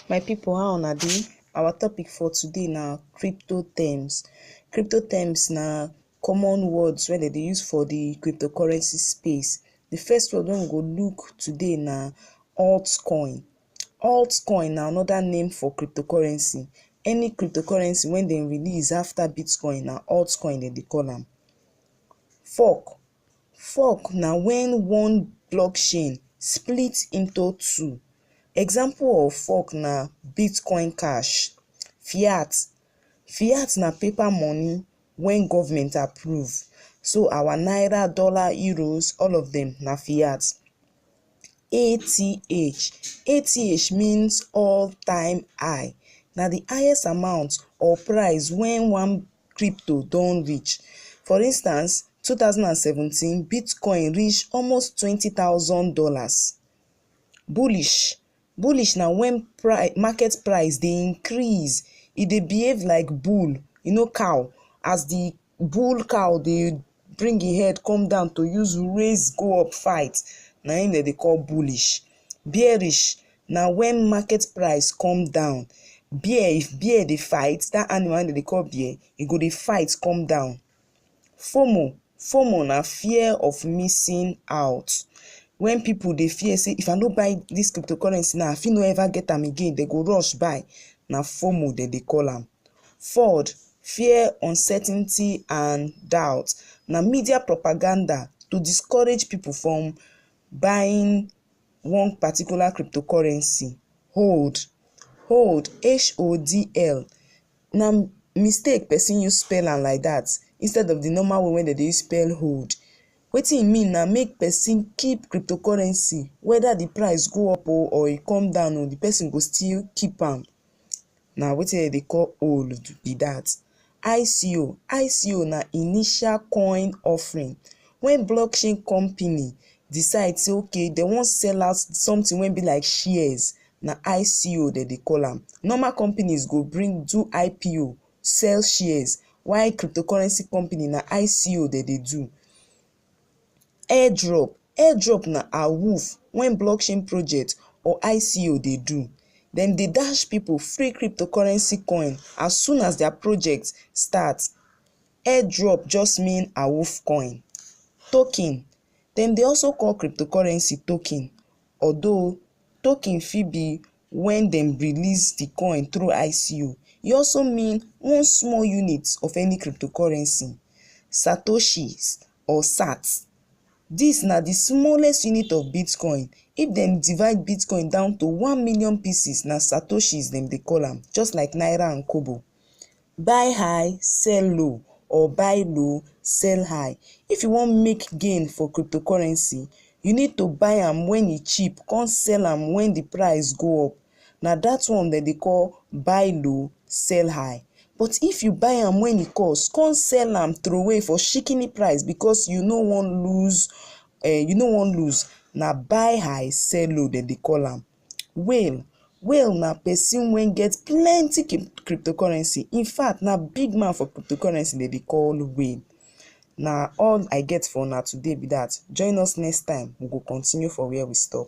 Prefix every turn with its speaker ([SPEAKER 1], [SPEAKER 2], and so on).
[SPEAKER 1] My pipu how una dey? Our topic for today na crypto terms. Crypto terms na common words wey dem dey use for de crypto currency space. De first word wey we go look today na alt coin. Alt coin na another name for crypto currency. Any crypto currency wey dem release after bitcoin na alt coin dem dey call am. Fork Fork na when one blockchain split into two. Example of fork na Bitcoin cash. Fiat, fiat na paper money when government approve so our naira, dollar, euros all of dem na fiat. ATH, ATH means all time high na the highest amount or price when one crypto don reach. For instance, two thousand and seventeen bitcoin reach almost twenty thousand dollars. Bullish, bullish na when pri market price dey increase, e dey behave like bull, you know cow as the bull cow dey bring im head come down to use raise go up fight na im dem dey call bullish. Bearish na when market price come down. Bear if bear dey fight that animal wey dem dey call bear e go dey fight come down. FOMO FOMO na fear of missing out when people dey fear say if I no buy this cryptocurrency now I fit no ever get am again dem go rush buy na FOMO dem dey call am. ford fear uncertainty and doubt na media propaganda to discourage people from buying one particular cryptocurrency hold hold H-O-D-L na mistake person use spell am like that instead of the normal way wey dem dey use spell hold wetin e mean na make person keep cryptocurrency whether the price go up o or e come down o the person go still keep am Na wetin dem dey call old be dat. ICO, ICO na initial coin offering when block chain company decide say okay dem wan sell out something wey be like shares na ICO dem dey call am. Normal companies go bring do IPO sell shares while cryptocurrency company na ICO dem dey do. Airdrop, airdrop na awoof wey blockchain project or ICO dey do. Dem dey dash pipu free crypto currency coin as soon as their project start. Airdrop just mean awoof coin. Token, dem dey also call crypto currency token although token fit be Wen dem release di coin through ICO, e also mean one small unit of any cryptocurrency, satoshis or sats. Dis na di smallest unit of Bitcoin, if dem divide Bitcoin down to one million pieces na satoshis dem dey call am, just like naira and kobo. Buy high, sell low or buy low, sell high, if you wan make gain for cryptocurrency, you need to buy am when e cheap come sell am when the price go up, na that one dem dey call buy low, sell high. But if you buy am when e cost come sell am throway for shikini price because you no wan lose, um you no wan lose, na buy high, sell low dem dey call am. Whale Whale na person wey get plenty cryptocurrency. In fact, na big man for cryptocurrency dem dey call Whale. Na all I get for una today be that. Join us next time, we go continue for where we stop.